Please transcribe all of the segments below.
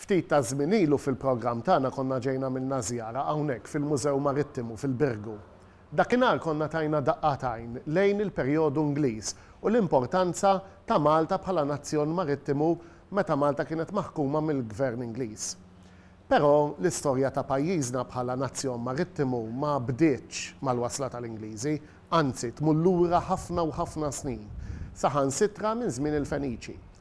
Ftit taż-żmien ilu fil-programm tagħna konna ġejna għamilna żjara hawnhekk fil-Mużew Marittimu fil-Birgu. Dakinhar konna tajna daqqa t'għajn lejn il-perjodu Ingliż u l-importanza ta' Malta bħala nazzjon marittimu meta Malta kienet maħkuma mill-Gvern Ingliż. Però l-istorja ta' pajjiżna bħala nazzjon marittimu ma bdietx mal-wasla tal-Ingliżi, anzi tmur lura ħafna u ħafna snin, saħansitra minn żmien il-Feniċi.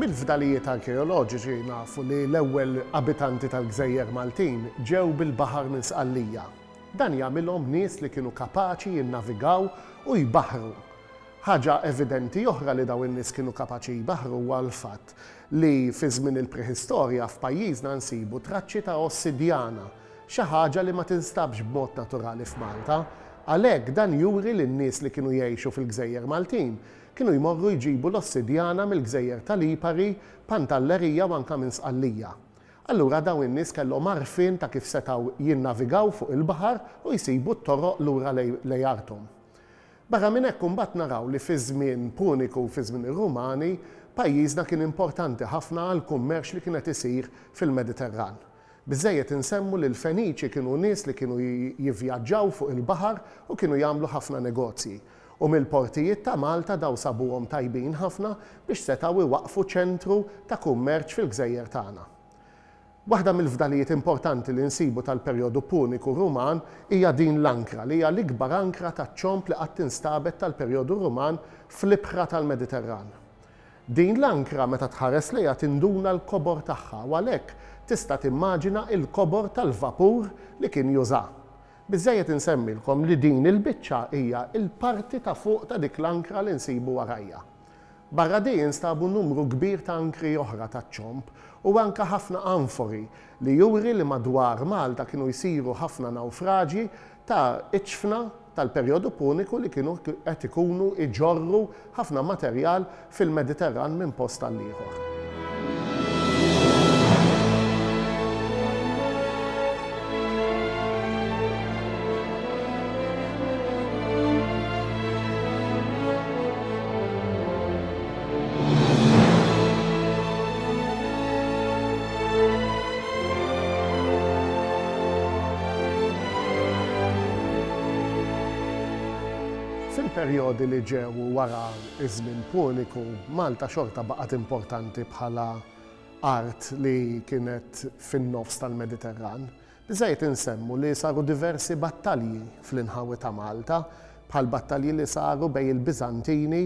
Mill-fdalijiet arkeoloġiċi nafu li l-ewwel abitanti tal-gżejjer Maltin ġew bil-baħar minn Sqallija. Dan jagħmilhom nies li kienu kapaċi jinnavigaw u jbaħħru. Ħaġa evidenti oħra li dawn in-nies kienu kapaċi jbaħħru huwa l-fatt li fi żmien il-Preħistorja f'pajjiżna nsibu traċċi ta' ossidjana, xi ħaġa li ma tinstabx b'mod naturali f'Malta. Għalhekk dan juri li n-nies li kienu jgħixu fil-gżejjer Maltin Kienu jmorru jġibu l-ossidjana mill-gżejjer ta' Lipari, Pantalleria u anke minn Sqallija. Allura dawn in-nies kellhom għarfien ta' kif setgħu jinnavigaw fuq il-baħar u jsibu t-toroq lura lejn arthom. Barra minn hekk imbagħad naraw li fiż-żmien Puniku u fiż-żmien ir-Rumani pajjiżna kien importanti ħafna għall-kummerċ li kien qed isir fil-Mediterran. Biżżejjed insemmu li l-Feniċi kienu nies li kienu jivvjaġġaw fuq il-baħar u kienu jagħmlu ħafna negozji. U mill-portijiet ta' Malta daw sabuhom tajbin ħafna biex setgħu iwaqqfu ċentru ta' kummerċ fil-gżejjer tagħna. Waħda mill-fdalijiet importanti li nsibu tal-perjodu Puniku Ruman hija din l-ankra li hija l-ikbar ankra taċ-ċomb li qatt instabet tal-perjodu Ruman fl-ibħra tal-Mediterran. Din l-ankra meta tħares lejha tinduna l-kobor tagħha u għalhekk tista' timmaġina l-kobor tal-vapur li kien juża. Biżżejjed insemmilkom li din il-biċċa hija l-parti ta' fuq ta' dik l-ankra li nsibu warajja. Barra di instabu numru kbir ta' ankri oħra taċ-ċomb u anke ħafna anfori li juri li madwar Malta kienu jsiru ħafna nawfraġji ta' iċfna tal-perjodu Puniku li kienu qed ikunu jġorru ħafna materjal fil-Mediterran minn post għal ieħor. Fil-perjodi li ġew wara ż-Żmien Puniku, Malta xorta baqgħet importanti bħala art li kienet fin-nofs tal-Mediterran. Żejt insemmu li saru diversi battalji fl-inħawi ta' Malta, bħall-battalji li saru bejn il-Biżantini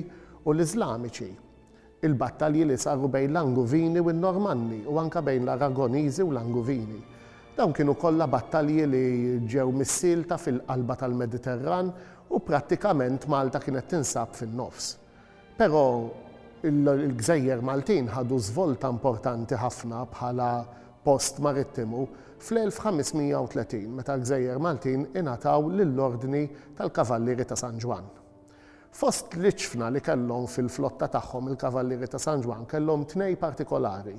u l-Iżlamiċi, il-battalji li saru bejn l-Anguvini u n-Normanni u anke bejn l-Aragoniżi u l-Anguvini. Dawn kienu kollha battalji li ġew missielta fil-qalba tal-Mediterran u prattikament Malta kienet tinsab fin-nofs. Però il-gżejjer Maltin ħadu żvolta importanti ħafna bħala post marittimu fl-1530 meta l-gżejjer Maltin ingħataw lill-Ordni tal-Kavallieri ta' San Ġwann. Fost l-iċfna li kellhom fil-flotta tagħhom il-Kavallieri ta' San Ġwann kellhom tnej partikolari,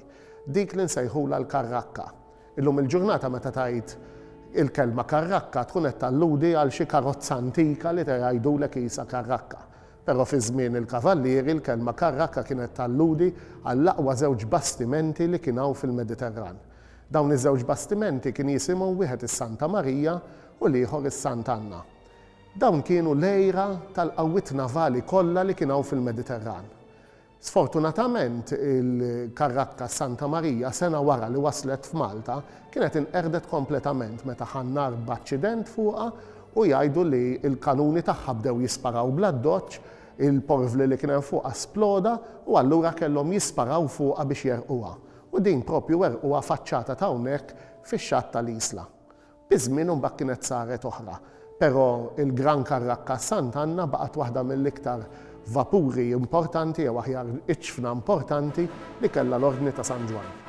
dik li nsejħulha l-karrakka. Illum il-ġurnata meta tgħid il-kelma karrakka tkun qed talludi għal xi karozza antika li jgħidulek qisha karrakka. Però fi żmien il-Kavallieri, l-kelma karrakka kienet talludi għall-aqwa żewġ bastimenti li kien hawn fil-Mediterran. Dawn iż-żewġ bastimenti kien jisimhom wieħed is-Santa Marija u l-ieħor is-Sant' Anna. Dawn kienu l-għira tal-qawwiet navali kollha li kien hawn fil-Mediterran. Sfortunatament, il-karrakka Santa Marija, sena wara li waslet f'Malta, kienet inqerdet kompletament meta ħa n-nar b'aċċident fuqha u jgħidu li l-kanuni tagħha bdew jisparaw bl-addoċċ, il-porvli li kien hemm fuqha sploda u allura kellhom jisparaw fuqha biex jerqquha. U din proprju werqquha faċċata t'hawnhekk fix-xatt tal-Isla. Iż-żmien imbagħad kienet saret oħra, però il-Gran Carraccas Sant' Anna baqgħet waħda mill-iktar vapuri importanti jew aħjar iċ-ċfna importanti li kellha l-Ordni ta' San Ġwann.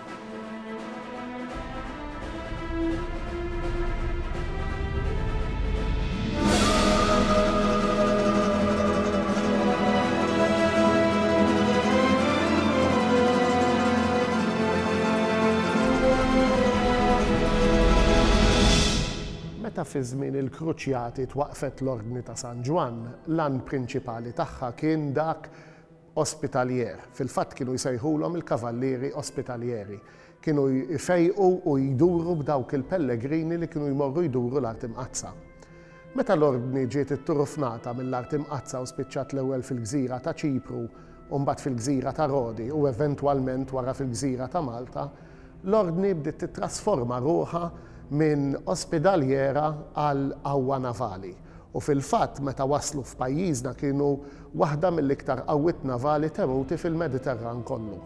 Meta fi żmien il-Kruċjati twaqqfet l-Ordni ta' San Ġwann, l-għan prinċipali tagħha kien dak ospitaljer. Fil-fatt kienu jsejħulhom il-Kavallieri Ospitaljeri. Kienu jfejqu u jduru b'dawk il-pellegrini li kienu jmorru jduru l-Art Imqaddsa. Meta l-Ordni ġiet itturufnata mill-Art Imqaddsa u spiċċat l-ewwel fil-gżira ta' Ċipru u mbagħad fil-gżira ta' Rodi u eventwalment wara fil-gżira ta' Malta, l-Ordni bdiet tittrasforma ruħha minn ospidaljera għal qawwa navali u fil-fatt meta waslu f'pajjiżna kienu waħda mill-iktar qawwiet navali temuti fil-Mediterran kollu.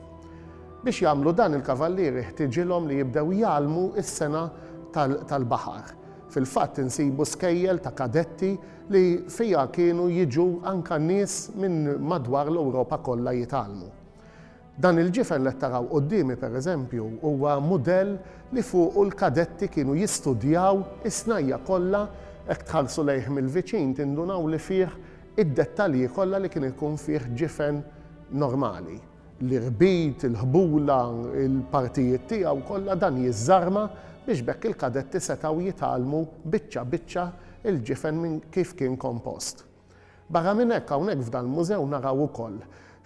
Biex jagħmlu dan il-kavallieri ħtiġilhom li jibdew jgħallmu s-sengħa tal-baħar. Fil-fatt insibu skejjel ta' kadetti li fiha kienu jiġu anka nies minn madwar l-Ewropa kollha jitgħallmu. Dan il-ġifen li qed taraw quddiemi pereżempju huwa mudell li fuqu l-kadetti kienu jistudjaw is-snajja' kollha, hekk tħarsu lejh mill-viċin tindunaw li fih id-dettalji kollha li kien ikun fih ġifen normali. l-irbit, il-ħbula, il-partijiet tiegħu kollha, dan jiżżarma biex b'hekk il-kadetti setgħu jitgħallmu biċċa biċċa l-ġifen minn kif kien kompost. Barra minn hekk hawnhekk f'dal-mużew naraw ukoll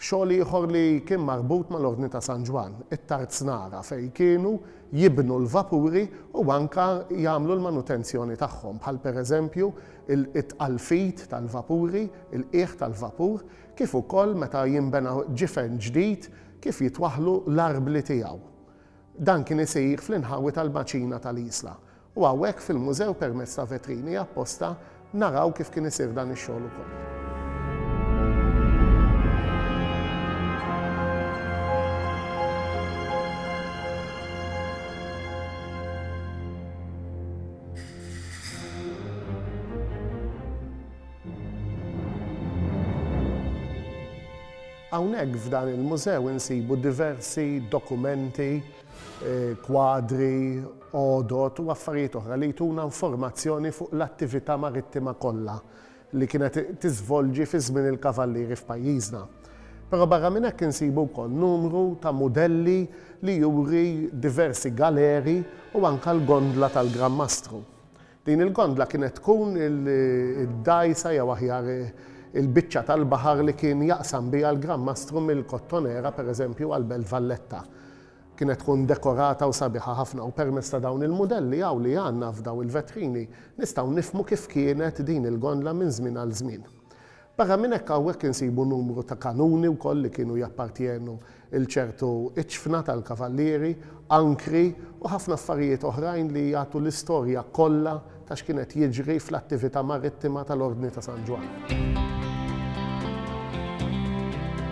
xogħol ieħor li kien marbut mal-Ordni ta' San Ġwann, it-tarznara fejn kienu jibnu l-vapuri u anke jagħmlu l-manutenzjoni tagħhom bħal pereżempju it-tqalfit tal-vapuri, il-qiegħ tal-vapur, kif ukoll meta jinbena ġifen ġdid kif jitwaħħlu l-arbli tiegħu. Dan kien isir fl-inħawi tal-Maċina tal-Isla u hawnhekk fil-Mużew permezz ta' vetrini apposta naraw kif kien isir dan ix-xogħol ukoll. Hawnhekk f'dan il-mużew insibu diversi dokumenti, kwadri, għodod u affarijiet oħra li jtuna informazzjoni fuq l-attività marittima kollha li kienet tiżvolġi fi żmien il-Kavallieri f'pajjiżna. Però barra minn hekk insibu wkoll numru ta' mudelli li juri diversi galeri u anke l-gondla tal-Gran Mastru. Din il-gondla kienet tkun id-dgħajsa jew aħjar il-biċċa tal-baħar li kien jaqsam biha l-Gran Mastru mill-Kottonera, pereżempju, għal Belt Valletta. Kienet tkun dekorata u sabiħa ħafna u permezz ta' dawn il-mudelli hawn li għandna f'dawn il-vetrini nistgħu nifhmu kif kienet din il-gondla minn żmien għal żmien. Barra minn hekk hawnhekk insibu numru ta' kanuni wkoll li kienu jappartjenu il ċertu iċfna tal-kavallieri, ankri u ħafna affarijiet oħrajn li jagħtu l-istorja kollha ta' x'kien qed jiġri fl-attività marittima tal-Ordni ta' San Ġwann.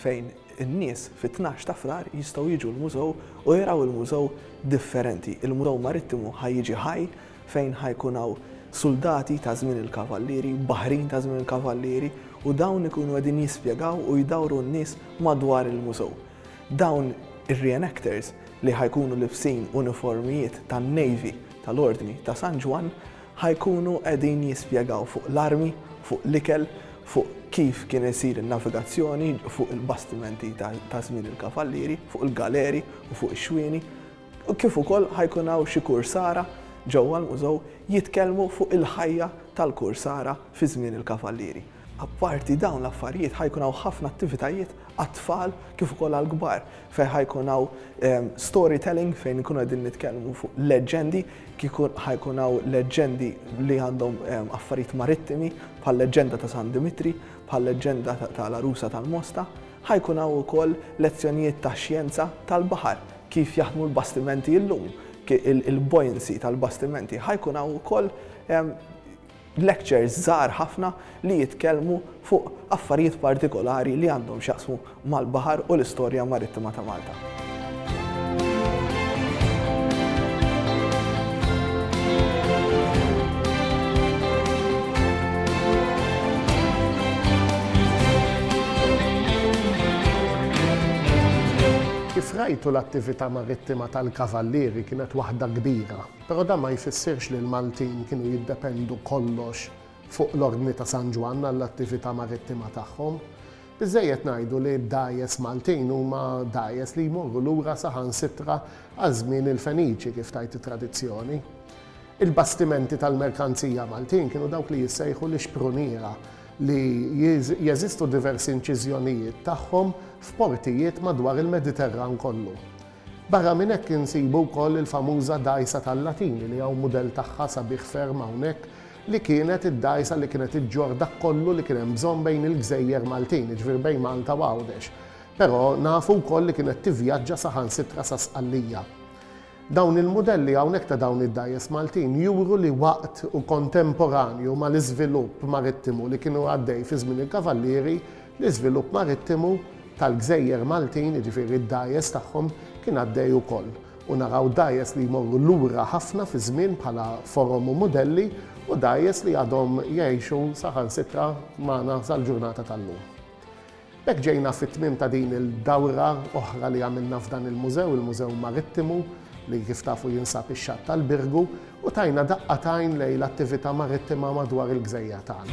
fejn in-nies fit-tnax ta' Frar jistgħu jiġu l-mużew u jaraw il-mużew differenti. Il-Mużew Marittimu ħa jiġi ħaj fejn ħa jkun hawn suldati ta' żmien il-Kavallieri, baħrin ta' żmien il-Kavallieri u dawn ikunu qegħdin jispjegaw u jdawru n-nies madwar il-mużew. Dawn ir-reenactors li ħa jkunu libsin uniformijiet tan-Navy tal-Ordni ta' San Ġwann Ħa jkunu qegħdin jispjegaw fuq l-armi, fuq l-ikel, fuq kif kien isir in-navigazzjoni fuq il-bastimenti ta' żmien il-kavallieri, fuq il-galeri u fuq ix-xwieni, kif ukoll ħa jkun hawn xi kursara ġewwa l-mużew jitkellmu fuq il-ħajja tal-kursara fi żmien il-kavallieri. Apparti dawn l-affarijiet ħa jkun hawn ħafna attivitajiet għat-tfal kif ukoll għall-kbar fejn ħa jkun hawn ehm, story telling fejn nkunu qegħdin nitkellmu fuq leġġendi, ħa jkun hawn leġġendi li għandhom ehm, affarijiet marittimi bħal leġġenda ta' San Dimitri, bħal leġġenda tal-Arusa tal-Mosta, ħa jkun hawn ukoll lezzjonijiet ta' xjenza tal-baħar kif jaħdmu l-bastimenti llum, il-buoyancy tal-bastimenti, ħa jkun hawn ukoll ehm, Lectures żgħar ħafna li jitkellmu fuq affarijiet partikolari li għandhom x'jaqsmu mal-baħar u l-istorja marittima ta' Malta. Kif rajtu l-attività marittima tal-Kavallieri kienet waħda kbira. Però dan ma jfissirx li l-Maltin kienu jiddependu kollox fuq l-Ordni ta' San Ġwann għall-attività marittima tagħhom. Biżżejjed ngħidu li d-dgħajjes Maltin huma dgħajjes li jmorru lura saħansitra għal żmien il-Feniċi, kif tgħid it-tradizzjoni. Il-bastimenti tal-merkanzija Maltin kienu dawk li jissejħu l-ixpruniera li jeżistu diversi inċiżjonijiet tagħhom f'portijiet madwar il-Mediterran kollu. Barra minn hekk insibu wkoll il-famuża dgħajsa tal-Latini li hawn mudell tagħha sabiħ ferm hawnhekk li kienet id-dgħajsa li kienet iġġorr dak kollu li kien hemm bżonn bejn il-gżejjer Maltin, jiġifieri bejn Malta u Għawdex. Però nafu wkoll li kienet tivvjaġġa saħansitra sa Sqallija. Dawn il-mudelli hawnhekk ta' dawn id-dgħajjes Maltin juru li waqt u kontemporanju mal-iżvilupp marittimu li kien għaddej fi żmien il-Kavallieri, L-iżvilupp marittimu tal-gżejjer Maltin, jiġifieri d-dgħajjes tagħhom, kien għaddej ukoll, u naraw dgħajjes li jmorru lura ħafna fiż-żmien bħala forom u mudelli, u dgħajjes li għadhom jgħixu saħansitra magħna sal-ġurnata tal-lum. B'hekk ġejna fit-tmiem ta' din il-dawra oħra li għamilna f'dan il-mużew, il-Mużew Marittimu, li kif tafu jinsab ix-Xatt tal-Birgu, u tajna daqqa t'għajn lejn l-attività marittima madwar il-gżejjer tagħna.